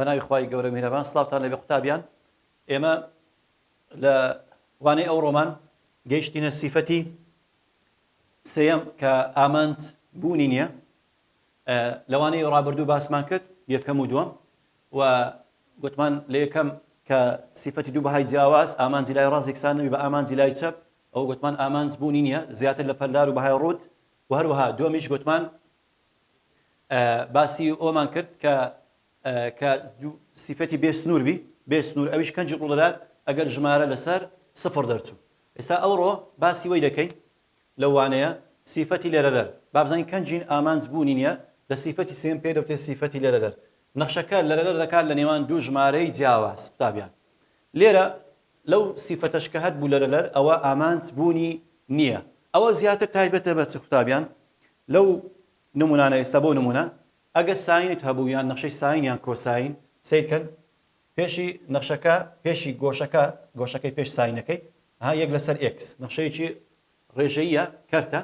بەناوی خوای گەورە میهرەبان سڵاوتان لێبێ قوتابیان ئێمە لە وانەی ئەو ڕۆمان گەیشتینە سیفەتی سێەم کە ئامانج بوونی نییە لە وانەی ڕابردوو باسمان کرد یەکەم و دووەم و گوتمان لە یەکەم کە سیفەتی دوو بەهای جیاواز ئامانجی لای ڕاست یەکسان نەبی بە ئامانجی لای چەپ ئەو گوتمان ئامانج بوونی نییە زیاتر لە پەلدار و بەهای ڕووت و هەروەها دووەمیش گوتمان باسی ئەومان کرد کە کە سیفەتی بێ سنوور بی بێ سنوور ئەویش کەنجی ڕوو دەدات ئەگەر ژمارە لەسەر سفر دەرچوو ئێستا ئەوڕۆ باسی وەی دەکەین لەو وانەیە سیفەتی لەرەرەر با بزانین کە جین ئامانج بوونی نیە لە سیفەتی سێم پێی دەوترێ سیفەتی لەرەرەر نەخشەکە لەرەرەر دەکات لە نێوان دوو ژمارەی جیاواز قوتابیان لێرە لەو سیفەتەش کە هەت بوو لەرەرەر ئەوە ئامانج بوونی نیە ئەوە زیاتر تایبەتە بە چ قوتابیان لەو نمونانە ئێستا بۆ نمونە ئەگە ساینت هەبوو یان نەخشەی ساین یان کۆساین سەیرکەن پێشی نەخشەکە پێشی گۆشەکە گۆشەکەی پێش ساینەکەی ها یەک لەسەر ئێکس نەخشەیەکی ڕێژەییە کەرتە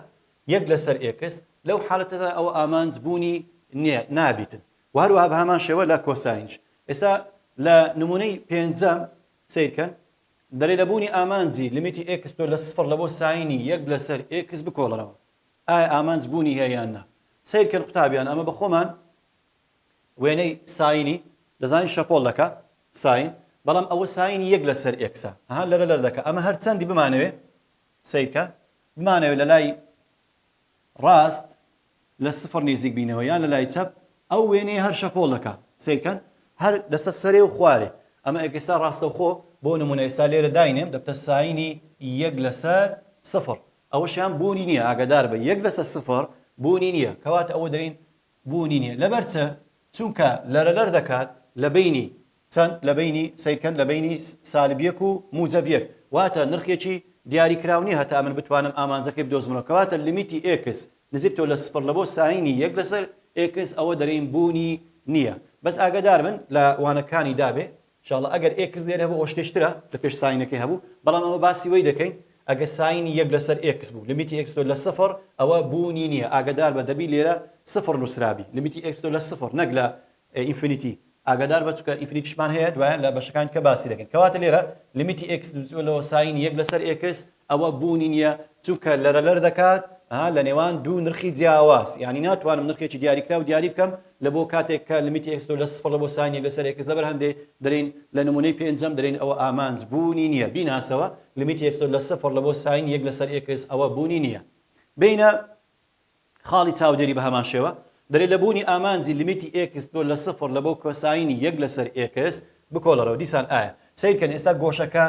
یەک لەسەر ئێکس لەو حالەتەدا ئەوە ئامانج بوونی نیە نابیتن و هەروەها بە هەمان شێوە لە کۆساینش ئێستا لە نمونەی پێنجەم سیرکەن دەرێ لە بوونی ئامانجی لمیتی ئێکس تۆ لە سفر لە بۆ ساینی یەک لەسەر ئێکس بکۆڵەرەوە ئایا ئامانج بوونی هەیە یان نا سیرکەن قوتابیان ئەمە بە خۆمان وێنەی ساینی دەزانین شەپۆڵ دەکا ساین بەڵام ئەوە ساینی یەک لە سەر ئێکسە ها لەرە لەر دەکا ئەمە هەر چەندی بمانەوێ سەیرکە بمانەوێ لە لای ڕاست لە سفر نزیک بینەوە یان لە لای چەپ ئەو وێنەیە هەر شەپۆڵ دەکا سەیرکەن هەر دەستە سەرێ و خوارێ ئەمە ئێکستا ڕاستەوخۆ بۆ نمونە ئێستا لێرە داینێم دەبتە ساینی یەک لەسەر سفر ئەوەشیان بوونی نییە ئاگادار بە یەک لەسەر سفر بوونی نییە کەواتە ئەوە دەین بوونی نیە لەبەر چ چونکە لەرە لەر دەکات لە بەینی چەند لە بەینی سەیرکەن لە بەینی سالب یەک و موجەب یەک واتە نرخێکی دیاری کراو نیە هەتا من بتوانم ئامانجەکەی بدۆزمەوە کەواتە لیمیتی ئێکس نزیکتەوە لە سفر لە بۆ ساینی یەک لەسەر ئێکس ئەوە دەرێین بوونی نیە بەس ئاگەدار بن لە وانەکانی دابێ شاڵڵە ئەگەر ئێکس لێرە هەبوو ئەوە شتێ ترە لە پێش ساینەکەی هەبوو بەڵام ئەمە باسی وەی دەکەین ئەگەر ساینی یەک لەسەر ئێکس بوو لمیتی ئێکس تۆ لە سفر ئەوە بوونی نیە ئاگەدار بە دەبی لێرە سفر نوسرابی لمیتی ئێکس تۆ لە سفر نەک لە ئینفینیتی ئاگادار بە چونکە ئینفینیتیشمان هەیە دوایە لە بەشەکانی دیکە باسی دەکەین کەواتە لێرە لمیتی ئێکس لۆ ساینی یەک لەسەر ئێکس ئەوە بوونی نیە چونکە لەرەلەر دەکات لە نێوان دوو نرخی جیاواز یانی ناتوانم نرخێکی دیاریکراو دیاری بکەم لە بۆ کاتێک کە لمیتی ئێکس تۆ لە سفڕ لە بۆ ساین یەک لەسەر ئێکس لەبەر هەندێ دەلێین لە نمونەی پێنجەم دەلێین ئەوە ئامانج بوونی نیە بیناسەوە لمیتی ئێکس تۆ لە سفڕ لە بۆ ساین یەک لەسەر ئێکس ئەوە بوونی نیە بینە خاڵی چاودێری بە هەمان شێوە دەلێ لە بوونی ئامانجی لیمیتی ئێکس تۆ لە سفر لە بۆ کۆساینی یەک لە سەر ئێکس بکۆڵەرەوە دیسان ئایا سەیر کەن ئێستا گۆشەکە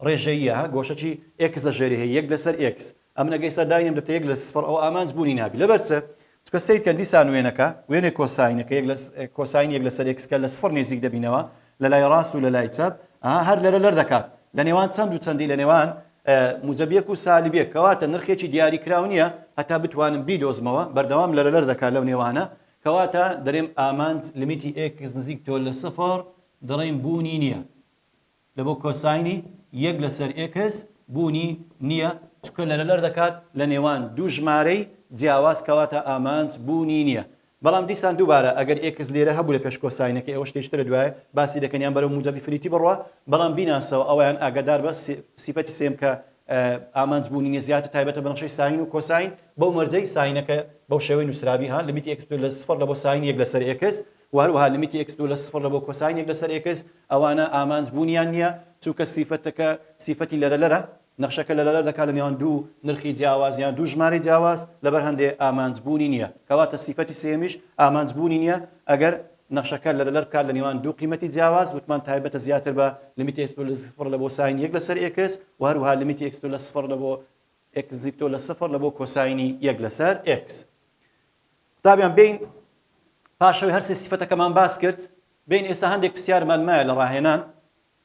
ڕێژەییە ها گۆشە چی ئێکس لە ژێری هەیە یەک لە سەر ئێکس ئەمن ئەگە ئێستا داینێم دەتە یەک لە سفر ئەوە ئامانج بوونی نابی لەبەر چ چکە سەیر کەن دیسان وێنەکە وێنەی کۆساینەکە یەک لە کۆساین یەک لە سەر ئێکس کە لە سفر نێزیک دەبینەوە لە لای ڕاست و لە لای چەپ، ئەها هەر لەرە لەر دەکات، لە نێوان چەند و چەندی لە نێوان موجەبیەک و سالبیەک، کەواتە نرخێکی دیاری کراو نیە هەتا بتوانم بیدۆزمەوە، بەردەوام لەرە لەر دەکات لەو نێوانە، کەواتە دەرێم ئامانج لمیتی ئێکس نزیک تۆ لە سفر دەڕێم بوونی نیە، لە بۆ کۆساینی یەک لە سەر ئێکس بوونی نیە، چونکە لەرە لەر دەکات لە نێوان دوو ژمارەی جیاواز، کەواتە ئامانج بوونی نیە، بەڵام دیسان دووبارە ئەگەر ئێکس لێرە هەبوو لە پێش کۆساینەکەی ئەوە شتێکی ترە دوایە باسی دەکەن یان بەرەو موجەب ئیفریتی بڕوا بەڵام بیناسەوە ئەوەیان ئاگادار بە سیفەتی سێم کە ئامانج بوونی نیە زیاتر تایبەتە بە نەخشەی ساین و کۆساین بەو مەرجەی ساینەکە بەو شێوەی نوسرابی ها لمیتی ئێکس دوو لە سفڕ لە بۆ ساین یەک لەسەر ئێکس و هەروەها لمیتی ئێکس دوو لە سفڕ لە بۆ کۆساین یەک لەسەر ئێکس ئەوانە ئامانج بوونیان نیە چونکە سیفەتەکە سیفەتی لەرەلەرە نەخشەکە لەلادەر دەکات لە نێوان دوو نرخی جیاواز یان دوو ژمارەی جیاواز لەبەر هەندێ ئامانج بوونی نییە کەواتە سیفەتی سێیەمیش ئامانج بوونی نییە ئەگەر نەخشەکە لەلەدەر بکات لە نێوان دوو قیمەتی جیاواز وتمان تایبەتە زیاتر بە لمیتی ئێکس تۆ لە زفڕ لە بۆ ساینی یەک لەسەر ئێکس و هەروەها لمیتی ئێکس تۆ لە سفڕ لە بۆ ئێکس زیپ تۆ لە سفڕ لە بۆ کۆساینی یەک لەسەر ئێکس قوتابیان بین پاشەوەی هەرسێ سیفەتەکەمان باس کرد بین ئێستا هەندێک پرسیارمان مایە لە ڕاهێنان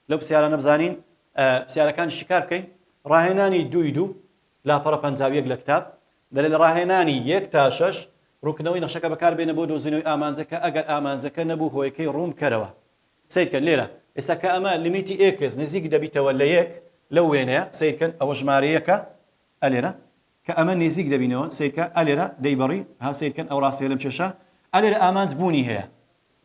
لەو پسیارانە بزانین پسیارەکانی شیکار بکەین ڕاهێنانی دووی دوو لاپەڕە پەنجاویەک لە کتاب دەلێ لە ڕاهێنانی یەک تا شەش ڕووکردنەوەی نەخشەکە بەکاربێنە بۆ دۆزینەوەی ئامانجەکە ئەگەر ئامانجەکە نەبوو هۆیەکەی ڕوون بکەرەوە سیرکە لێرە ئێستا کە ئەمە لمیتی ئێکس نزیک دەبیتەوە لە یەک لەو وێنەیە سیرکەن ئەوە ژمارەیەکە ئەلێرە کە ئەمە نزیک دەبینەوە سیرکە ئەلێرە دەیبڕی ها سیرکەن ئەو ڕاستەیە لەم کێشە ئەلێرە ئامانج بوونی هەیە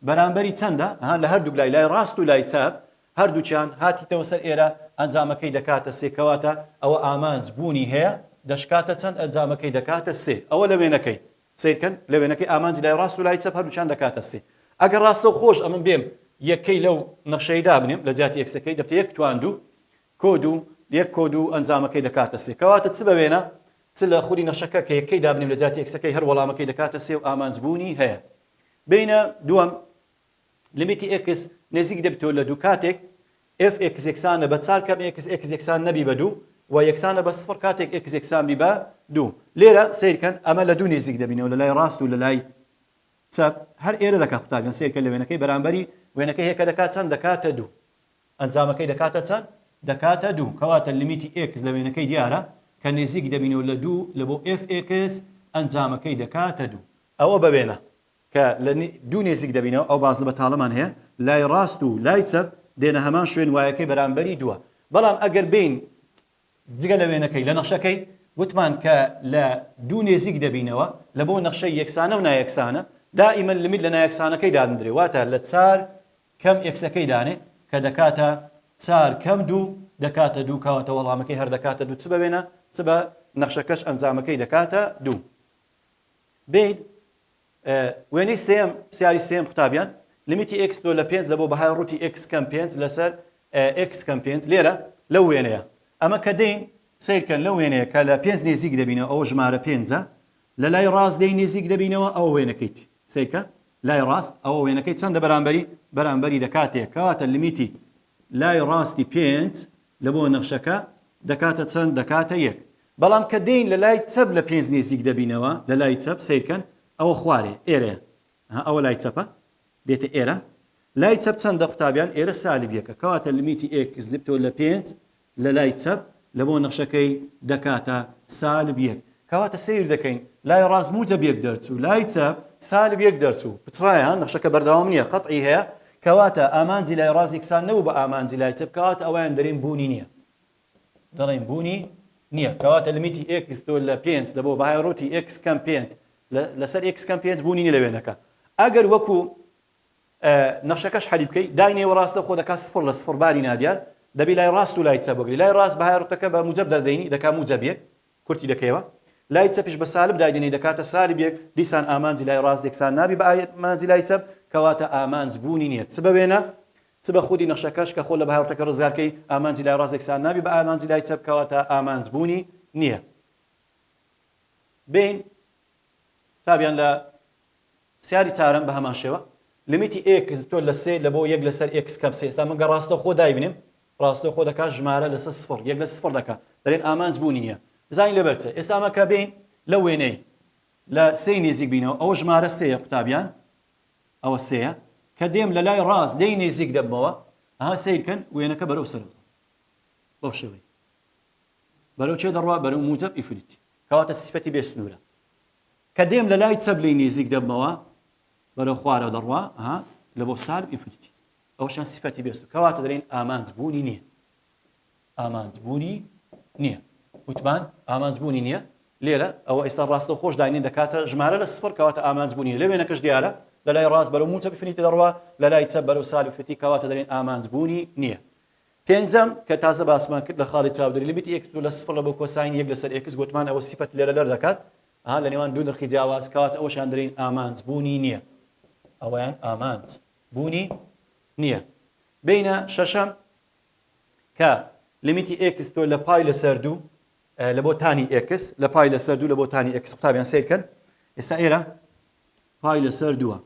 بەرامبەری چەندە؟ ها لە هەردووک لای لای ڕاست و لای چەپ هەردووکیان هاتیتەوە سەر ئێرە ئەنجامەکەی دەکاتە سێ کەواتە ئەوە ئامانج بوونی هەیە دەشکاتە چەند ئەنجامەکەی دەکاتە سێ ئەوە لە وێنەکەی سەیرکەن لە وێنەکەی ئامانجی لای ڕاست و لای چەپ هەردووکیان دەکاتە سێ ئەگەر ڕاستەو خۆش ئەمن بێم یەکەی لەو نەخشەی دابنێم لە جیاتی ئێکسەکەی دەبتە یەک تواندوو کۆد و یەک کۆد و ئەنجامەکەی دەکاتە سێ کەواتە چ بە وێنە چ لە خولی نەخشەکە کە یەکەی دابنێم لە جیاتی ئێکسەکەی هەر وەڵامەکەی دەکاتە سێ و ئامانج بوونی هەیە بینە دووەم لیمیتی ئێکس نێزیک دەبیتەوە لە دوو کاتێک ئێف ئێکس یەکسانە بە چار کەم ئێکس ئێکس یەکسان نەبی بە دوو و یەکسانە بە سفڕ کاتێک ئێکس یەکسان بی بە دوو لێرە سیر کەن ئەمە لە دوو نێزیک دەبینەوە لە لای ڕاست و لە لای چەپ هەر ئێرە دەکات قوتابیان سیر کە لە وێنەکەی بەرامبەری وێنەکە هێکە دەکات چەند دەکاتە دوو ئەنجامەکەی دەکاتە چەند دەکاتە دوو کەواتە لیمیتی ئێکس لە وێنەکەی دیارە کە نێزیک دەبینەوە لە دوو لە بۆ ئێف ئێکس ئەنجامەکەی دەکاتە دوو ئەوە بە وێنە کە لە دوو نێزیک دەبینەوە، ئەو بازنە بەتاڵەمان هەیە لای ڕاست و لای چەپ دێنە هەمان شوێن وایەکەی بەرامبەری دووە. بەڵام ئەگەر بێین جگە لە وێنەکەی لە نەخشەکەی وتمان کە لە دوو نێزیک دەبینەوە لە بۆ نەخشەی یەکسانە و نایەکسانە دائیمەن لمت لە نایەکسانەکەی دادندرێ واتە لە چار کەم ئێکسەکەی دانێ کە دەکاتە چار کەم دوو دەکاتە دوو کەواتە وەڵامەکەی هەر دەکاتە دوو چ بە وێنە چ بە نەخشەکەش ئەنجامەکەی دەکاتە دوو. بین وێنەی سێم پسیاری سێم قوتابیان لمیتی ئێکس لۆ لە پێنج لە بۆ بەهای ڕووتی ئێکس کەم پێنج لەسەر ئێکس کەم پێنج لێرە لەو وێنەیە ئەمە کە دەین سیرکەن لەو وێنەیە کە لە پێنج نێزیک دەبینەوە ئەو ژمارە پێنجە لە لای ڕاست دەی نێزیک دەبینەوە ئەو وێنەکەیت سیرکە لای ڕاست ئەو وێنەکەی چەندە بەرامبەری بەرامبەری لە کاتێک کەواتە لمیتی لای ڕاستی پێنج لە بۆ نەخشەکە دەکاتە چەند؟ دەکاتە یەک. بەڵام کە دێین لە لای چەپ لە پێنج نێزیک دەبینەوە، لە لای چەپ، سەیرکەن ئەوە خوارێ، ئێرەیە. ئەها ئەوە لای چەپە، دێتە ئێرە. لای چەپ چەندە قوتابیان؟ ئێرە سالب یەکە. کەواتە لمیتی ئێکس لپتۆ لە پێنج لە لای چەپ لە بۆ نەخشەکەی دەکاتە سالب یەک. کەواتە سەیر دەکەین لای ڕاست موجەب یەک دەرچوو لای چەپ سالب یەک دەرچوو پچڕایە ها نەخشەکە بەردەوام نیە قەتعی هەیە کەواتە ئامانجی لای ڕاست یەکسان نەبوو بە ئامانجی لای چەپ کەواتە ئەوەیان دەرێن بوونی نیە دەڵێن بوونی نیە کەواتە لمیتی ئێکس تۆ لە پێنج دەبۆ بەهای ڕووتی ئێکس کەم پێنج لەسەر ئێکس کەم پێنج بوونی نیە لە وێنەکە ئەگەر وەکو نەخشەکەش حەلی بکەی دای نێوەڕاستە خۆ دەکات سفر لە سفر باری نادیار دەبی لای ڕاست و لای چەپ وەگری لای ڕاست بەهای ڕوتەکە بە موجەب دەردەینی دەکا موجەب یەک کورتی دەکەیەوە لای چەپیش بە سالب دایدەنێی دەکاتە سالبێک دیسان ئامانجی لای ڕاست یەکسان نابی بە ئامانجی لای چەپ کەواتە ئامانج بوونی نیە چ بە وێنە چ بە خودی نەخشەکەش کە خۆ لە بهاوتەکە ڕزگار کەی ئامانجی لای ڕاست یەکسان نابی بە ئامانجی لای چەپ کەواتە ئامانج بوونی نیە بین تابیان لە پرسیاری چارەم بە هەمان شێوە لمیتی ئێکس تۆ لە سێ لە بۆ یەک لەسەر ئێکس کەم سێ ئێستا من گە ڕاستەخۆ دایبنێم ڕاستەوخۆ دەکات ژمارە لەسەر سفڕ یەک لەسەر سفڕ دەکات دەلێن ئامانج بوونی نیە بزانین لەبەر چە ئێستا ئەمە کە بێین لەو وێنەی لە سێی نێزیک بینەوە ئەوە ژمارە سێیە قوتابیان ئەوە سێیە کە دێم لە لای ڕاست لێی نێزیک دەبمەوە ئەها سیرکەن وێنەکە بەرەو سەرەوە بەو شێوەی بەرەو چێ دەڕوا بەرەو موجب ئیفریتی کەواتە سیفەتی بێ سنوورە کە دێم لە لای چەپ لێی نێزیک دەبمەوە بەرەو خوارەوە دەڕوا ئەها لە بۆ سالب ئیفریتی ئەوەشیان سیفەتی بێست و کەواتە دەلێن ئامانج بوونی نییە ئامانج بوونی نییە وتمان ئامانج بوونی نییە لێرە ئەوە ئێستا ڕاستە خۆش داینین دەکاتە ژمارە لە سفر کەواتە ئامانج بوونی لە وێنەکەش دیارە لە لای ڕاست بەرەو موچە بفنیتە دەڕوا لە لای چە بەرەو سال بفتی کەواتە دەلێن ئامانج بوونی نییە پێنجەم کە تازە باسمان کرد لە خاڵی چاودێری لە بیتی ئێکس لە سفر لە بۆ کۆساین یەک لەسەر ئێکس گوتمان ئەوە سیفەت لێرە لەر دەکات ها لە نێوان دوو نرخی جیاواز کەواتە ئەوەشیان دەلین ئامانج بوونی نییە ئەویان ئامانج بوونی نییە. بینە شەشەم کە لیمیتی ئێکس تۆ لە پای لەسەر دوو لە بۆ تانی ئێکس لە پای لەسەر دوو لە بۆ تانی ئێکس قوتابیان سیرکەن ئێستا ئێرە پای لەسەر دووە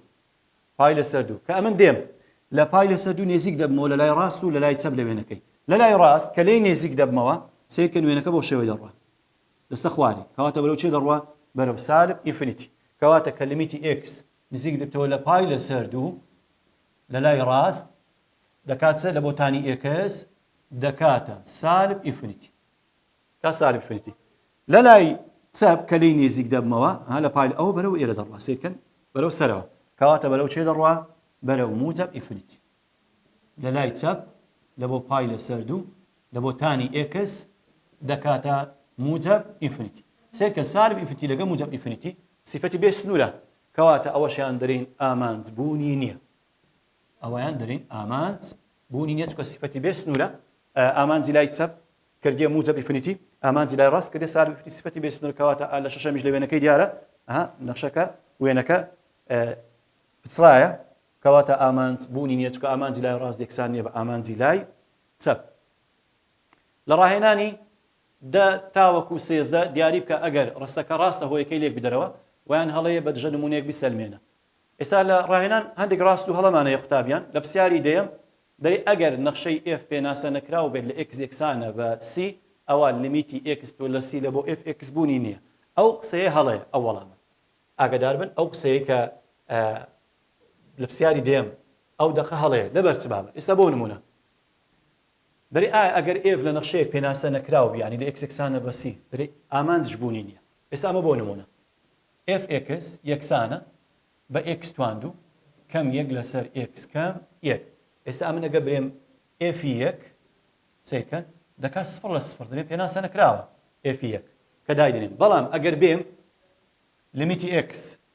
پای لەسەر دوو کە ئەمن دێم لە پای لەسەر دوو نێزیک دەبمەوە لە لای ڕاست و لە لای چەپ لە وێنەکەی لە لای ڕاست کە لێی نێزیک دەبمەوە سیرکە نوێنەکە بۆ شێوەی دەڕوە دەستە خوارێ کەواتە بەرەو چێ دەڕوە بەرەو سالب ئینفینیتی کەواتە کە لیمیتی ئێکس نزیک لە تۆ لە پای لە سەر دوو لە لای ڕاست دەکات سەر لە بۆ تانی ئێکس دەکاتە سالب ئینفنیتی تا سالب ئینفنیتی لە لای چەپ کە لی نێزیک دەبمەوە ها لە پای ئەوە بەرەو ئێرە دەڕوا سیرکەن بەرەو سەرەوە کەواتە بەرەو چێ دەڕوا بەرەو موجب ئینفنیتی لە لای چەپ لە بۆ پای لە سەر دوو لە بۆ تانی ئێکس دەکاتە موجەب ئینفنیتی سەیرکە سالب ئینفنیتی لەگە موجەب ئینفنیتی سیفەتی بێ سنوورە کەواتە ئەوەشیان دەرین ئامانج بوونی نییە ئەوەیان دەرین ئامانج بوونی نیە چکە سیفەتی بێ سنوورە ئامانجی لای چەپ کردیە موجەب ئینفنیتی ئامانجی لای ڕاست کردێ سالب ئینفنیتی سیفەتی بێ سنوور کەواتە لە شەشەمیش لە وێنەکەی دیارە نەخشەکە وێنەکە پچڕایە کەواتە ئامانج بوونی نییە، چونکە ئامانجی لای ڕاست یەکسان نییە بە ئامانجی لای چەپ. لە ڕاهێنانی دە تاوەکو سێزدە دیاری بکە ئەگەر ڕستەکە ڕاستە هۆیەکەی لێک بدەرەوە وەیان هەڵەیە بە دژە نموونەیەک بیسەلمێنە. ئێستا لە ڕاهێنان هەندێک ڕاست و هەڵەمان هەیە قوتابیان، لە پرسیاری دەیەم دەی ئەگەر نەخشەی ئێف پێناسە نەکراو بێت لە ئێکس یەکسانە بە سی ئەوا لمیتی ئێکس پلەس سی لە بۆ ئێف ئێکس بوونی نییە ئەو قسەیە هەڵەیە ئەو وەڵامە. ئاگەدار بن ئەو قسەیەی کە لە پسیاری دەیەم ئەو دەقە هەڵەیە لەبەر چ بابە ئیستا بۆ نمونە برێ ئایا ئەگەر ئێڤ لە نەخشەیەک پێناسە نەکراو بیانی لە ئێکسێکسان نە بە سی برێ ئامانج ژبوونی نیە ئیستا ئەمە بۆ نمونە ئێف ئێکس یەکسانە بە ئێکس تواندو کەم یەک لە سەر ئێکس کەم یەک ئێستا ئەمن ئەگە برێم ئێفی یەک سیرکە دەکات سفر لە سفر دەێن پێناسە نەکراوە ئێفی یەک کە دایدنێن بەڵام ئەگەر بێم لمیتی ئکس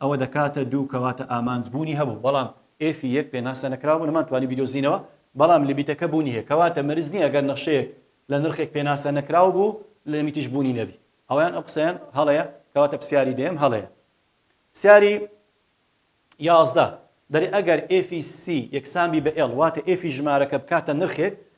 ئەوە دەکاتە دوو کەواتە ئامانج بوونی هەبوو بەڵام ئێفی یەک پێناسە نەکراو بوو نەمانتوانی بیدۆزینەوە بەڵام لمیتەکە بوونی هەیە کەواتە مەرج نیە گەر نەخشەیەک لە نرخێک پێناسە نەکراو بوو لمیتیش بوونی نەبی ئەوەیان ئەو قسەیان هەڵەیە کەواتە پرسیاری دەیەم هەڵەیە پرسیاری یازدە دەرێ ئەگەر ئێفی سی یەکسان بی بە ئێڵ واتە ئێفی ژمارەکە بکاتە نرخێک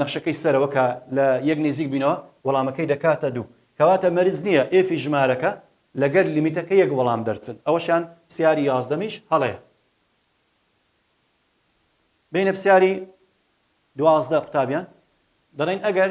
نەخشەکەی سەرەوە کە لە یەک نیزیک بینەوە وەڵامەکەی دەکاتە دوو کەواتە مەرج نیە ئێفی ژمارەکە لەگەر لیمیتەکە یەک وەڵام دەرچن ئەوەشیان پسیاری یازدەمیش هەڵەیە بینە پسیاری دوازدە قوتابیان دەڵێن ئەگەر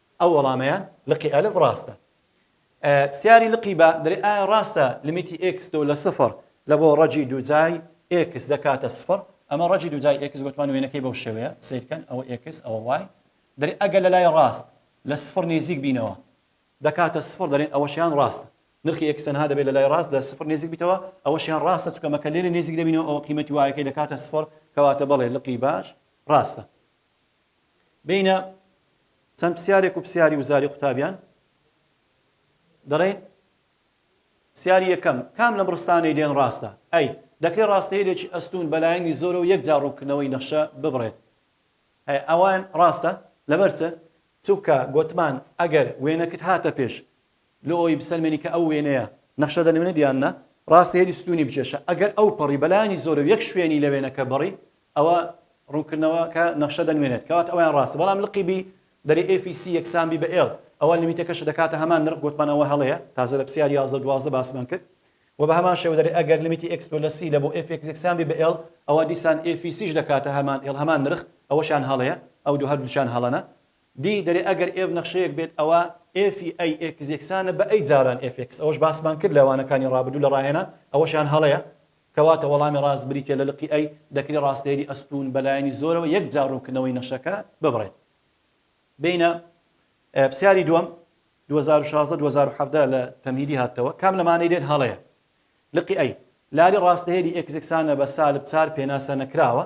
ئەو وەڵامەیان لقی ئەلف ڕاستە. پسیاری لقی با دەلێ ئایا ڕاستە لمیتی ئێکس دوو لە سفر لە بۆ ڕەجی دووجای ئێکس دەکاتە سفر؟ ئەمە ڕەجی دووجای ئێکس گۆتمان وێنەکەی بەو شێوەیە سەیر کەن ئەوە ئێکس ئەوە وای دەلێ ئەگەر لە لای ڕاست لە سفر نیزیک بینەوە دەکاتە سفر دەلێن ئەوەشیان ڕاستە نرخی ئێکس تەنها دەبێت لە لای ڕاست لە سفر نیزیک بیتەوە ئەوەشیان ڕاستە چونکە مەکە لێرە نیزیک دەبینەوە ئەوە قیمەتی وایەکەی دەکاتە سفر کەواتە بەڵێ لقی باش ڕاستە بینە چەند پسیارێک و پسیاری وزاری قوتابیان دەڵێن پسیاری یەکەم کام لەم ڕستانەی دێن ڕاستە ئەی دەکرێت ڕاستەیەکی ئەستون بەلایەنی زۆرە و یەک جاڕوونکردنەوەی نەخشە ببڕێت ئەی ئەوان ڕاستە لەبەرچە چونکە گوتمان ئەگەر وێنەکت هاتە پێش لۆ ئەوەی بسەلمێنی کە ئەو وێنەیە نەخشە دەنوێنێت یان نا، ڕاستە هێلی ستوونی بکێشە، ئەگەر ئەو پەڕی بە لایەنی زۆرەو یەک شوێنی لە وێنەکە بڕی، ئەوا ڕوونکردنەوەکە نەخشە دەنوێنێت، کەواتە ئەوەیان ڕاستە، بەڵام لقی بی دەرێ ئێف ی سی یەکسان بی بە ئێڵ، ئەوا لیمیتەکەشت دەکاتە هەمان نرخ، گۆتمان ئەوە هەڵەیە، تازە لە پسیار یازدە و دوازدە باسمان کرد، وە بە هەمان شێوە دەرێ ئەگەر لیمیتی ئێکس تۆ لە سی لە بۆ ئێف ئێکس یەکسان بی بە ئێڵ، ئەوا دیسان ئێف ی سیش دەکاتە هەمان ئێڵ، هەمان نرخ، ئەوەشیان هەڵەیە، ئەو دوو هەردووکیان هەڵەنە. دی، دەرێ ئەگەر ئێف نەخشەیەک بێت ئەوا ئێفی ئەی ئێکس یەکسانە بە ئەی جاران ئێف ئێکس ئەوەش باسمان کرد لە وانەکانی ڕابردوو لە ڕاهێنان ئەوەشیان هەڵەیە کەواتە وەڵامی ڕاست بریتیە لە لقی ئەی دەکرێ ڕاستەیەری ئەستوون بە لایەنی زۆرەوە یەک جار ڕوونکردنەوەی نەخشەکە ببڕێت بینە پسیاری دووەم دوو هەزار و شازدە دوو هەزار و حەڤدە لە تەمهیدی هاتەوە کام لەمانەی لێت هەڵەیە لقی ئەی لاری ڕاستەیەری ئێکس یەکسانە بە سالب چار پێناسە نەکراوە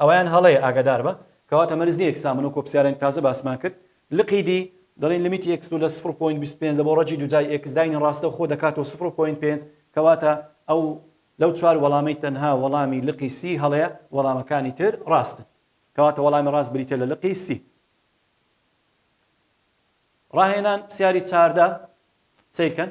ئەوەیان هەڵەیە ئاگاداربە کەواتە مەرج نیە یەک سامن وەکو پسیارێنک تازە باسمان کرد لقی دی دەڵین لمیتی ئێکس دوو لە سفر و پۆینت بیست و پێنج لە بۆ ڕەجی دوجای ئێکس داینی ڕاستە خۆ دەکاتەوە سفر و پۆینت پێنج کەواتە ئەو لەو چوار وەڵامەی تەنها وەڵامی لقی سی هەڵەیە وەڵامەکانی تر ڕاستن کەواتە وەڵامی ڕاست بریتیە لە لقی سی. ڕاهێنان پسیاری چاردە سەیرکەن.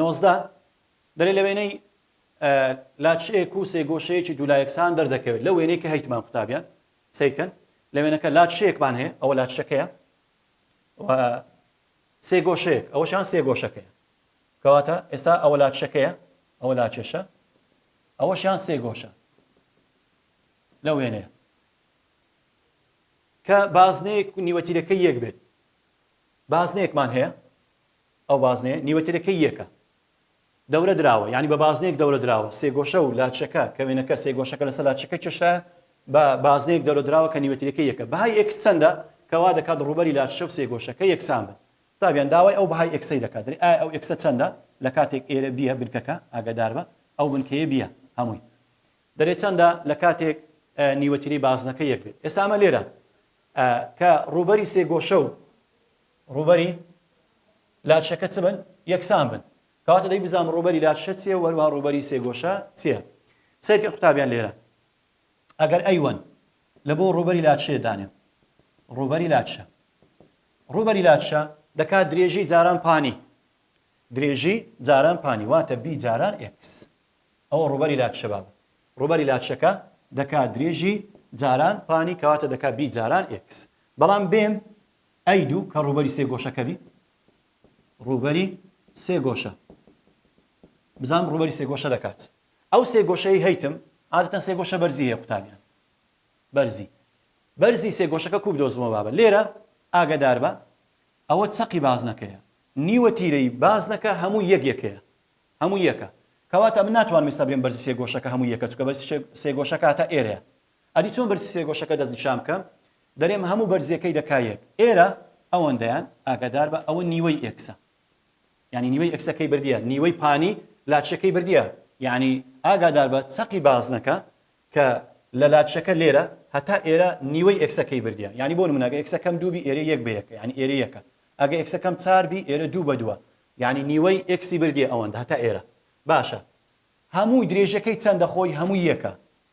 نۆزدە، دەلێ لە وێنەی لاچئێک و سێگۆشەیەکی دوولایەکسان دەردەکەوێت لەو وێنەی کە هەیتمان قوتابیان سەیر کەن لە وێنەکە لاچشەیەکمان هەیە ئەوە لاچشەکەیە و سێگۆشەیەک ئەوەشان سێگۆشەکەیە کەواتە ئێستا ئەوە لاچشەکەیە ئەوە لاچێشە ئەوەشیان سێگۆشە لە وێنەیە کە بازنەیەک نیوەتیرەکە یەک بێت بازنێکمان هەیە ئەو بازنەیە نیوەترەکەی یەکە دەورە دراوە یانی بە بازنەیەک دەورە دراوە سێگۆشە و لاچەکە کە وێنەکە سێگۆشەکە لەسەر لاچەکە کێشرایە بە بازنەیەک دەورە دراوە کە نیوەترەکەی یەکە بەهای ئێکس چەندە کە وا دەکات ڕووبەری لاچە و سێگۆشەکە یەکسان بن قوتابیان داوای ئەو بەهای ئێکسەی دەکات دەرێ ئایا ئەو ئێکسە چەندە لە کاتێک ئێرە بیە بنکەکە ئاگادار بە ئەو بنکەیە بیە هەمووی دەرێ چەندە لە کاتێک نیوەتری بازنەکە یەک بێت ئێستا ئەمە لێرە کە ڕووبەری سێگۆشە و ڕووبەری لاچەکە چ بن؟ یەکسان بن. کەواتە دەی بزانم ڕووبەری لاچە چییە و هەروەها ڕووبەری سێگۆشە چییە؟ سەیر کە قوتابیان لێرە ئەگەر ئەیوەن لە بۆ ڕووبەری لاچێ دانێم ڕووبەری لاچە ڕووبەری لاچە دەکات درێژی جاران پانی درێژی جاران پانی واتە بی جاران ئێکس ئەوە ڕووبەری لاچە بابە ڕووبەری لاچەکە دەکات درێژی جاران پانی کەواتە دەکات بی جاران ئێکس بەڵام بێم ئەی دوو کە ڕووبەری سێ گۆشەکە بی. ڕووبەری سێ گۆشە. بزانم ڕووبەری سێ گۆشە دەکات. ئەو سێ گۆشەی هەیتم عادەتەن سێ گۆشە بەرزی هەیە قوتابیان. بەرزی. بەرزی سێ گۆشەکە کوو بدۆزمەوە بابە. لێرە ئاگەدار بە ئەوە چەقی بازنەکەیە. نیوە تیرەی بازنەکە هەمووی یەک یەکەیە. هەمووی یەکە. کەواتە من ناتوانم ئێستا بلێم بەرزی سێ گۆشەکە هەمووی یەکە چونکە بەرزی سێ گۆشەکە هەتا ئێرەیە. ئەدی چۆن بەرزی سێگۆشەکە دەستنیشان بکەم؟ دەرێم هەموو بەرزیەکەی دەکا یەک. ئێرە ئەوەندەیان ئاگاداربە ئەوە نیوەی ئێکسە. یانی نیوەی ئێکسە کەی بردیە نیوەی پانی لاچە کەی بردیە. یانی ئاگاداربە چەقی بازنەکە کە لە لاچەکە لێرە هەتا ئێرە نیوەی ئێکسە کەی بردیە. یانی بۆ نمونە ئەگە ئێکسە کەم دوو بی ئێرە یەک بە یەکە یانی ئێرە یەکە. ئەگە ئێکسە کەم چار بی ئێرە دوو بە دووە. یانی نیوەی ئێکسی بردیە ئەوەندە هەتا ئێرە. باشە هەمووی درێژەکەی چەندە خۆی هەمووی یەکە.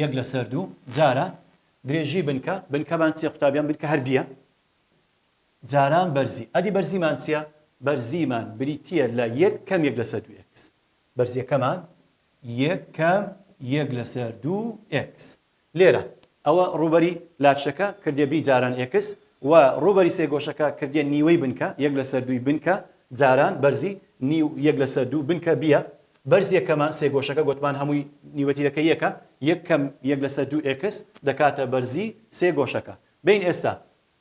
یەک لەسەر دوو جاران درێژی بنکە، بنکەمان چیە قوتابیان بنکە هەر بیە جاران بەرزی، ئەدی بەرزیمان چیە بەرزیمان بریتیە لە یەک کەم یەک لەسەر دوو ئێکس بەرزیەکەمان یەک کەم یەک لەسەر دوو ئێکس لێرە ئەوە ڕووبەری لاچەکە کردێ بی جاران ئێکس و ڕووبەری سێگۆشەکە کردێ نیوەی بنکە یەک لەسەر دووی بنکە جاران بەرزی نیو یەک لەسەر دوو بنکە بیە بەرزیە کەمان سێگۆشەکە گۆتمان هەمووی نیوە تیرەکە یەکە یەک کەم یەک لەسەر دوو ئێکس دەکاتە بەرزی سێ گۆشەکە بین ئێستا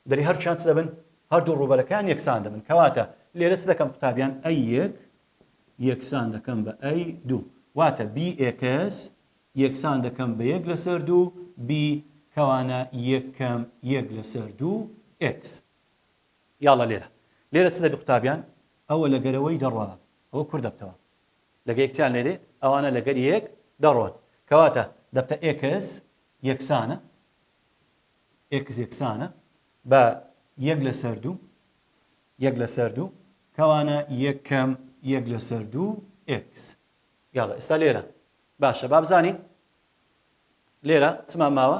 دەری هەرچیان چ دەبن هەردوو ڕووبەرەکان یەکسان دەبن کەواتە لێرە چ دەکەم قوتابیان ئەی یەک یەکسان دەکەم بە ئەی دوو واتە بی ئێکس یەکسان دەکەم بە یەک لەسەر دوو بی کەوانە یەک کەم یەک لەسەر دوو ئێکس یاڵا لێرە لێرە چ دەبی قوتابیان؟ ئەوە لە گەرەوەی دەڕوا ئەوە کور دەبتەوە لەگە یەک چیان لێدێ ئەوانە لەگەر یەک دەڕۆن کەواتە دەبتە ئێکس یەکسانە ئێکس یەکسانە بە یەک لەسەر دوو یەک لەسەر دوو کەوانە یەکەم یەک لەسەر دوو ئێکس یاڵە ئێستا لێرە باشە بابزانین لێرە چمان ماوە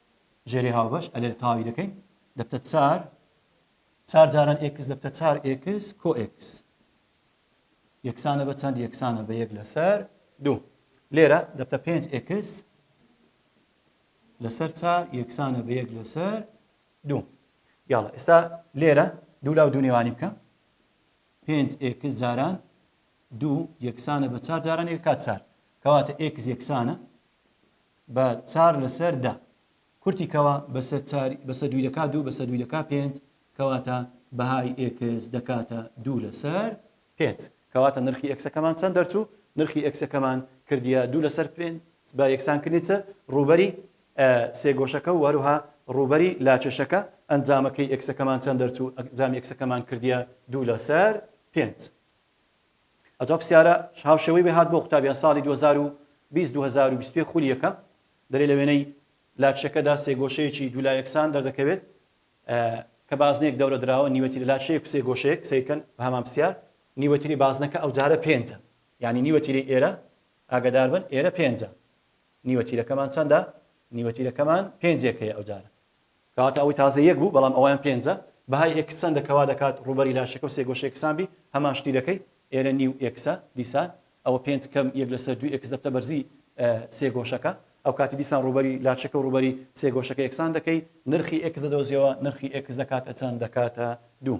ژێرێ هاوبەش ئەلێر تاوی دەکەین دەبتە چار چار جاران ئێکس دەبتە چار ئێکس کۆ ئێکس یەکسانە بە چەند یەکسانە بە یەک لەسەر دوو لێرە دەبتە پێنج ئێکس لەسەر چار یەکسانە بە یەک لەسەر دوو یاڵە ئێستا لێرە دوو لاو دوو نێوانی بکە پێنج ئێکس جاران دوو یەکسانە بە چار جاران یەکات چار کەواتە ئێکس یەکسانە بە چار لە سەر دە. کورتی کەوە بە سەر چار بە سە دوی دەکا دوو بە سە دوی دەکا پێنج کەواتە بەهای ئێکس دەکاتە دوو لە سەر پێنج کەواتە نرخی ئێکسەکەمان چەند دەرچوو نرخی ئێکسەکەمان کردیە دوو لە سەر پێنج بە یەکسان کردنی چ ڕووبەری سێگۆشەکە و هەروها ڕووبەری لاکێشەکە ئەنجامەکەی ئێکسەکەمان چەند دەرچوو ئەنجامی ئێکسەکەمان کردیە دوو لە سەر پێنج. ئەجا پسیارە ش هاوشێوەی وێ هات بۆ قوتابیان ساڵی دوو هەزار و بیست دوو هەزار و بیست و یەک خولی یەکەم دەلێ لە وێنەی لاچەکەدا سێگۆشەیەکی دوو لا یەکسان دەردەکەوێت کە بازنەیەک دەورە دراوە نیوەتی لە لاچەیەک سێ گۆشەیەک سەیر کەن بە هەمان پسیار نیوەتیری بازنەکە ئەو جارە پێنجە یعنی نیوەتیری ئێرە ئاگەدار بن ئێرە پێنجە نیوەتیرەکەمان چەندە نیوەتیرەکەمان پێنجێکەیە ئەو جارە کەواتە ئەوەی تازە یەک بوو بەڵام ئەوان پێنجە بەهای ئێکس چەندە کەوا دەکات ڕووبەری لاشەکە و سێ گۆشەی ئێکسان بی هەمان شتی دەکەی ئێرە نیو ئێکسە دیسان ئەوە پێنج کەم یەک لەسەر دوو ئێکس دەبتە بەرزی سێ گۆشەکە ئەوکاتی دیسان ڕووبەری لاشەکە و ڕووبەری سێ گۆشەکە ئێکسان دەکەی نرخی ئێکس دەدۆزیەوە نرخی ئێکس دەکاتە چەند دەکاتە دوو